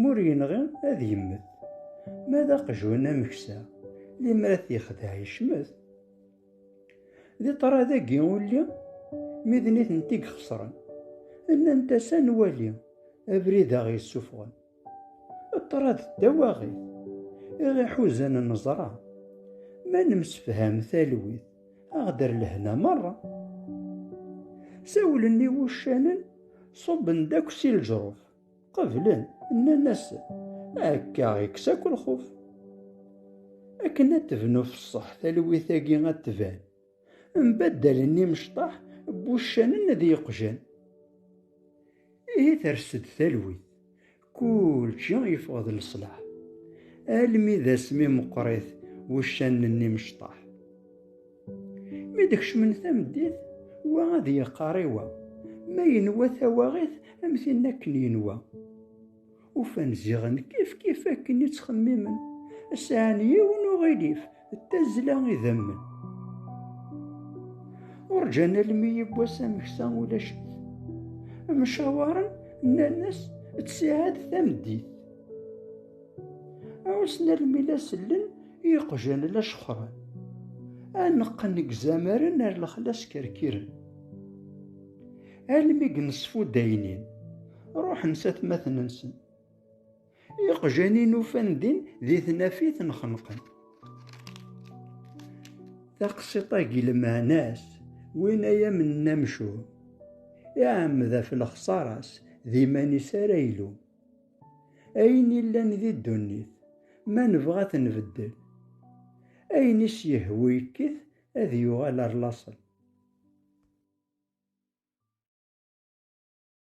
M'ur yenɣi ad yemmet. Ma d aqjun ameksa, limer ad t-yexdeɛ yecmet. Di ṭṭrad-agi ulli, mi d nitenti ixesren, nnant-as ad nwali abrid aɣ yessufɣen. Ṭṭrad d tawaɣit iɣ iḥuzan neẓra, ma nemsefham talwit aɣ d lehna merra. Sawlen i wuccanen ṣubben-d akk si leǧruf. Qeblen, nnan-asen, akka ikkes akk lxuf. Akken ad tebnu fesseḥ talwit-agi ad tban, mbaddalen imecṭaḥ n wuccanen d yeqjan. Ihi ters-d talwit, kulci yeffeɣ d leṣlaḥ, almi d asmi meqqrit wuccanen n imecṭaḥ. Mi d-kecmen tameddit, wa ad yeqqar i wa, ma yenwa tawaɣit am tin akken yenwa. Ufan ziɣen kifkif akken i ttxemmimen, sɛan yiwen uɣilif d tazzla idammen. Ur ǧǧan almi yiwwas ameksa ulac-it. Mcawaren nnan-as d ttiɛad tameddit. Ɛussen almi la sellen Iqjan la cexxren, aneqqen deg izamaren ar lexla skerkiren. Almi deg nesfudaynin, ruḥen s atmaten-nsen. Iqjan-in ufan din di tnafit nxenqen. Taqsiṭ-agi lmeɛna-s win ay am-nna amcum, iɛemmed ɣef lexṣara-s d iman-is ara ilum. Ayen illan di ddunit, ma nebɣa ad t-nbeddel, ayen i s-yehwu yekkit ad yuɣal ar laṣel.